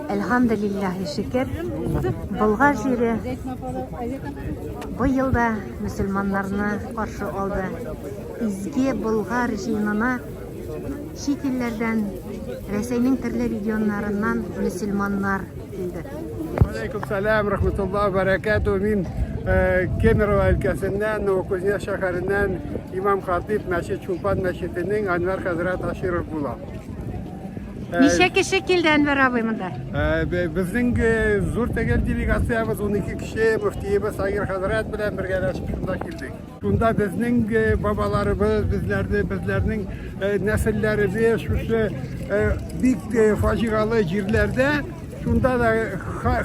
Әлхамдулиллахи шөкер, Болгар җире быел да мөселманнарны каршы алды. Изге Болгар җыенына чит илләрдән, Рәсәйнең төрле регионнарыннан мөселманнар килде. Алейкум салам, рахматуллах, баракату. Мин э, Кемерово өлкәсеннән, Новокузнецк шәһәреннән имам хатип мәчет Чулпан мәчетенең Анвар хәзрәт Аширов була. Ничә кеше килде Әнвәр абый монда? Безнең зур тәгәл делегациябез 12 кеше, мөфтиебез Агир хәзрәт белән бергә шунда килдек. Шунда безнең бабаларыбыз, безләрне, безләрнең нәселләребез шушы бик фаҗигале җирләрдә Шунда да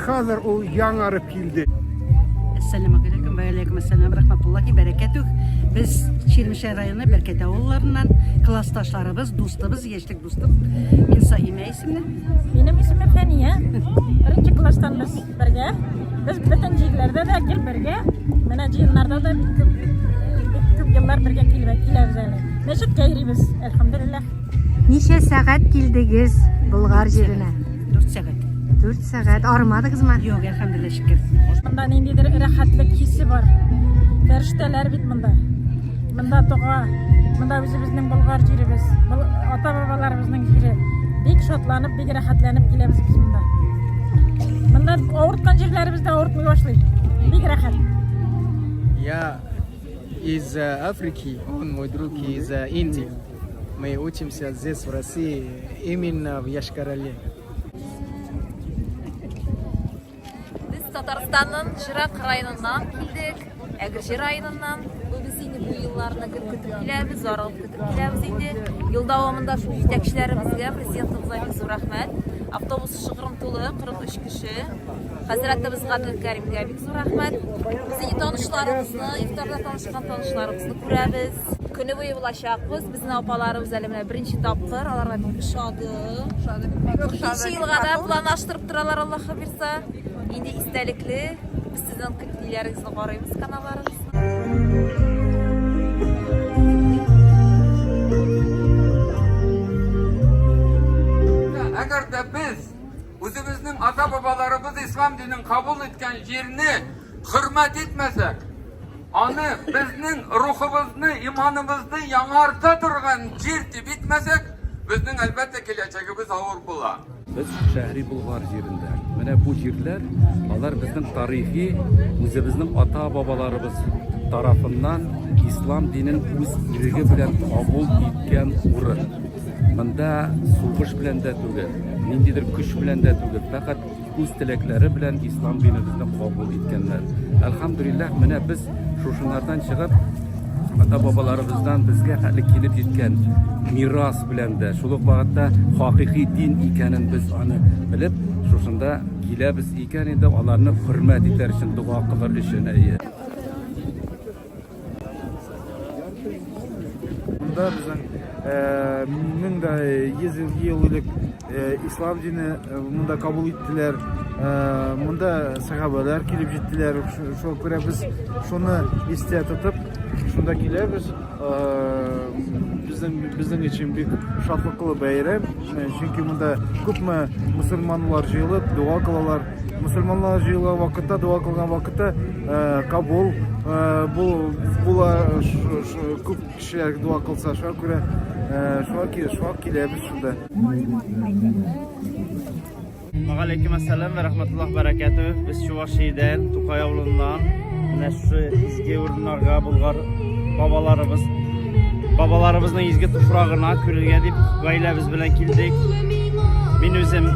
хәзер ул яңарып килде. Әссәламу алейкум, вә алейкум әссәлам, рахматуллахи бәрәкәтүх. Без Чирмешәй районы Бәркәт авылларыннан классташларыбыз, дустыбыз, яшьлек дустым. Мин Саимә исемле. Минем исемем Фәния. Беренче класстан без бергә. Без бөтен җирләрдә дә гел бергә. Менә җыеннарда да күп еллар бергә киләбез әле. Мәчеткә йөрибез, әлхәмдулиллаһ. Ничә сәгать килдегез Болгар җиренә? 4 сәгать. 4 сәгать армадыгызмы? Юк, әлхәмдүлилләһ шөкер. Монда ниндидер рәхәтлек хисе бар. Фәрештәләр бит монда. Монда дога, монда үзебезнең Болгар җиребез, ата-бабаларыбызның җире. Бик шатланып, бик рәхәтләнеп киләбез без монда. Монда авырткан җирләребез дә авыртмый башлый. Бик рәхәт. Я из Африки, он мой друг из Индии. Мы учимся здесь, в России, именно в Яшкарале. Без Татарстанның Чирак районыннан килдек, Әгерҗе районыннан. Без инде бу елларны гел көтеп киләбез, зарыгып көтеп киләбез инде. Ел дәвамында шул җитәкчеләребезгә, президентыбызга бик зур рәхмәт. Автобус шыгрым тулы, 43 кеше. Хәзрәтебез Гадел Кәримгә бик зур рәхмәт. Без инде танышларыбызны, ифтарда танышкан танышларыбызны күрәбез. Көне буе булачакбыз. Безнең апаларыбыз әле менә беренче тапкыр. Аларга бик ошады. Ошады. Икенче елга да планлаштырып торалар, Аллаһ бирса. Инде истәлекле. Без сезнең көтлиләрегезне карыйбыз каналларыгыз. Әгәр дә без үзебезнең ата-бабаларыбыз ислам динен кабул иткән җирне хөрмәт итмәсәк, Аны, безнең рухыбызны, иманыбызны яңарта торган җир дип итмәсәк, безнең, әлбәттә, киләчәгебез авыр була. Без Шәһри Болгар җирендә. Менә бу җирләр, алар безнең тарихи, үзебезнең ата-бабаларыбыз тарафыннан ислам динен үз иреге белән кабул иткән урын. Монда сугыш белән дә түгел, ниндидер көч белән дә түгел, фәкать үз теләкләре белән ислам динебезне кабул иткәннәр. Әлхамдулиллах, менә без шушыннардан чыгып, ата бабаларыбыздан безгә хәле килеп җиткән мирас белән дә, шул ук вакытта хакыйкый дин икәнен без аны белеп, шушында киләбез икән инде, аларны хөрмәт итәр өчен, дога кылыр өчен. Монда безнең мең дә йөз ел элек ислам дине монда кабул иттеләр. Монда сәхабәләр килеп җиттеләр. Шуңа күрә без шуны истә тотып, шунда киләбез. Безнең безнең өчен бик шатлыклы бәйрәм, чөнки монда күпме мусульманнар җыелып, дога кылалар. Мөселманлар җыела вакытта, дога кылган вакытта кабул була, күп кешеләр дога кылса, шуңа күрә шуңа киләбез шунда. Галәйкем әссәлам вә рахмәтуллаһ бәрәкәтү. Без Чувашиядән, Тукай авылыннан. Менә шушы изге урыннарга Болгар бабаларыбыз бабаларыбызның изге туфрагына күрергә дип гаиләбез белән килдек. Мин үзем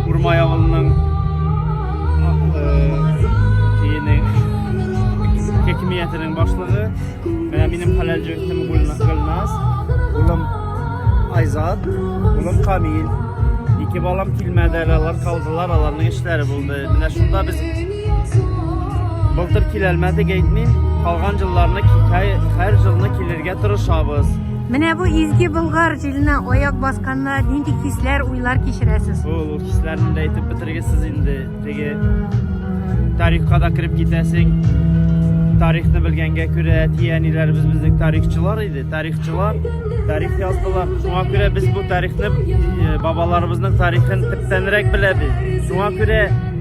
Урмай авылының хакимиятенең башлыгы. Менә минем хәләл җегетем Гөлназ, улым Айзат, улым Камил. Ике балам килмәде әле, алар калдылар, аларның эшләре булды. Менә шунда без Былтыр киләлмәдек әйтмим, калган җылларны һәр җылны килергә тырышабыз. Менә бу изге Болгар җиленә аяк басканда нинди хисләр, уйлар кичерәсез? Ул хисләрне дә әйтеп бетергесез инде. Теге тарихка да кереп китәсең. Тарихны белгәнгә күрә әти-әниләребез безнең тарихчылар иде. Тарихчылар тарих яздылар. Шуңа күрә без бу тарихны э, бабаларыбызның тарихын төптәнрәк беләбез. Шуңа күрә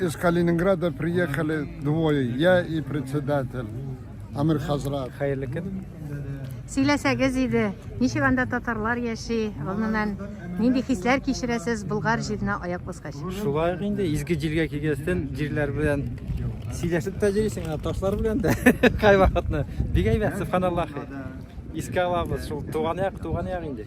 Из Калининграда приехали двое, я и председатель Амир Хазрат. Хәерле көн. Сөйләсәгез иде, ничек анда татарлар яши, гомумән, нинди хисләр кичерәсез Болгар җиренә аяк баскач? Шулай инде изге җиргә килгәнсен, җирләр белән сөйләшеп тә йөрисең, ташлар белән дә кайвакытны. Бик әйбәт, субханаллахи. Искә алабыз, шул туган як, туган як инде.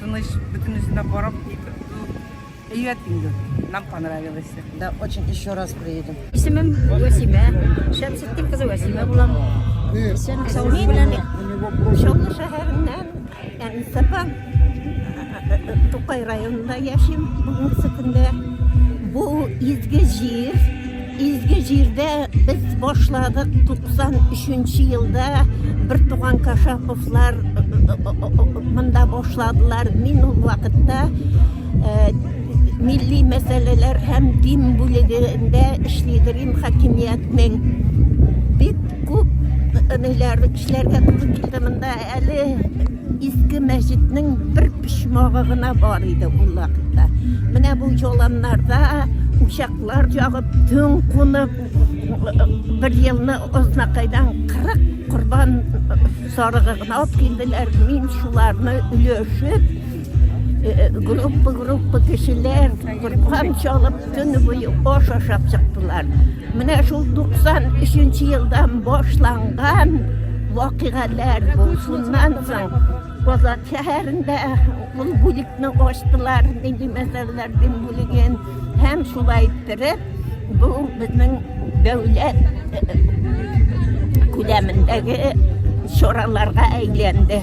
Тыныч, бөтенесенә карап әйбәт инде. Нам понравилось. Да, очень еще раз приедем. Исемем Вәсимә. Шәмсеттин кызы Вәсимә булам. Исем Саулин белән Чаллы шәһәреннән Әнсапа Тукай районында яшим. Бүгенге көндә бу изге җир Изге җирдә без башладык 93 нче елда бертуган Кашаповлар монда башладылар. Мин ул вакытта милли мәсьәләләр һәм дин бүлегендә эшли идем хакимиятнең. Бик күп ниләр эшләргә туры килде монда әле Иске мәчетнең бер почмагы гына бар иде ул вакытта. Менә бу җоланнарда учаклар ягып, төн кунып, бер елны ознакайдан 40 корбан сарыгы гына алып килделәр. Мин шуларны өлешеп, группа-группа кешеләр корбан чалып, Көне буе аш ашап чыктылар. Менә шул 93 елдан башланган вакыйгалар бу. Шуннан соң Казан шәһәрендә ул бүлекне ачтылар, нинди мәсьәләләрдән бүлеген һәм шулай иттереп бу безнең дәүләт э, э, күләмендәге чараларга әйләнде.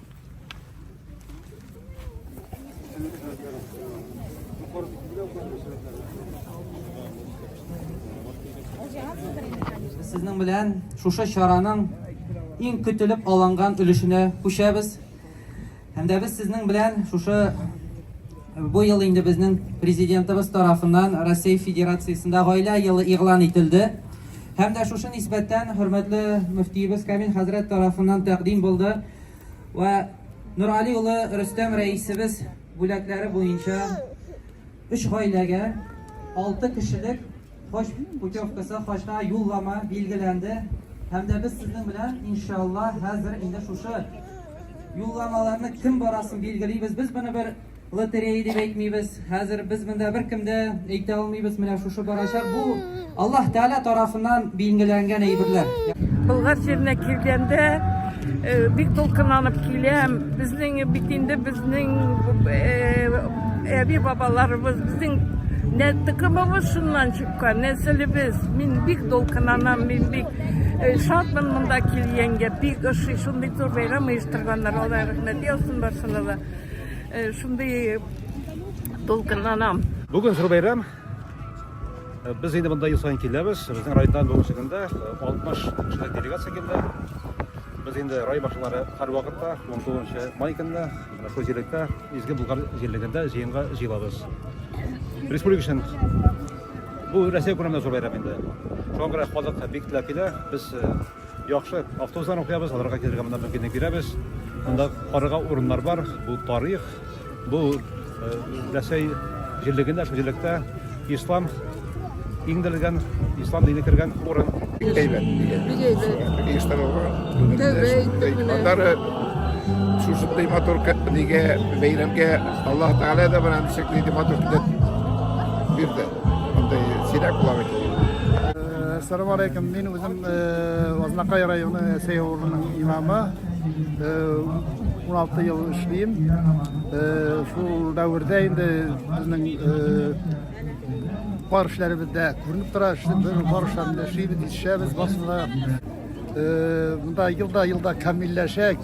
Сезнең белән шушы чараның иң көтелеп алынган өлешенә күчәбез. Һәм дә без сезнең белән шушы Бу ел инде безнең Президентыбыз тарафыннан Россия Федерациясендә Гаилә елы игълан ителде. Һәм дә шушы нисбәттән хөрмәтле мөфтиебез Камил хәзрәт тарафыннан тәкъдим булды вә Нургали улы Рөстәм рәисебез бүләкләре буенча өч гаиләгә алты кешелек Хаҗ путевкасы, хаҗга юллама билгеләнде һәм дә без сезнең белән, иншалла, хәзер инде шушы юлламаларны кем барасын билгелибез. Без моны бер лотерея дип әйтмибез. Хәзер без монда беркем дә әйтә алмыйбыз, менә шушы барачак. Бу Аллаһ Тәгалә тарафыннан билгеләнгән әйберләр. Болгар җиренә килгәндә Э, бик дулкынланып киләм. Безнең бит инде безнең э, әби бабаларыбыз, безнең нә тыкымыбыз шуннан чыккан, нәселебез. Мин бик дулкынланам, мин бик э, шатмын монда килгәнгә. Бик ошый, шундый зур бәйрәм оештырганнар. Алла рәхмәт яусын барсына да. Шундый дулкынланам. Бүген зур бәйрәм Э, без инде монда ел сайын киләбез безнең районнан бүгенге көндә 60 кешелек делегация килде без инде рай башлары һәрвакытта 19 май көнне шул җирлектә изге булгар җирлегендә җыенга җыелабыз республика өчен бу рәсәй күләмендә зур бәйрәм инде шуңа күрә халык бик теләп килә без э, Яхшы, автобусларны укыябыз, аларга килергә монда мөмкинлек бирәбез. Монда карарга урыннар бар. Бу тарих, бу Рәсәй җирлегендә, җирлектә ислам иң дәлгән ислам дине кергән урын. Әйбәт. Бигәйбәт. Иштан алга. Тәбәй. Андары шушындай матур нигә бәйрәмгә Аллаһ Тәгалә дә бирән шикли ди матур китеп бирде. Андый сирәк була бит. Ассаламу алейкум. Мин Һәм Азнакай районы сәй авылының имамы 16 ел эшлим. Шул дәвердә инде безнең бар эшләребез дә күренеп тора. Без бар эшләрне эшлибез, ишәбез басында. Монда елда елда камилләшә.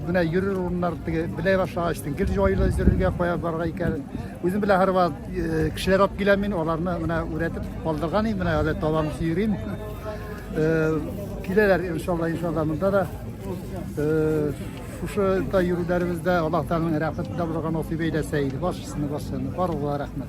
Менә йөрер урыннар теге белә башлагач, гел җайлы йөрергә кая барга икән. Үзем белән һәрвакыт э, кешеләр алып киләм мин, аларны менә үрәтеп калдырган идем, менә әле табам сөйрим. Э, киләләр иншалла, иншалла монда да. Э, шушы да йөрүләребездә Аллаһ Тәгаләнең рәхмәтендә булырга насыйп әйләсә иде. Баршасына баршасына барлыгына рәхмәт.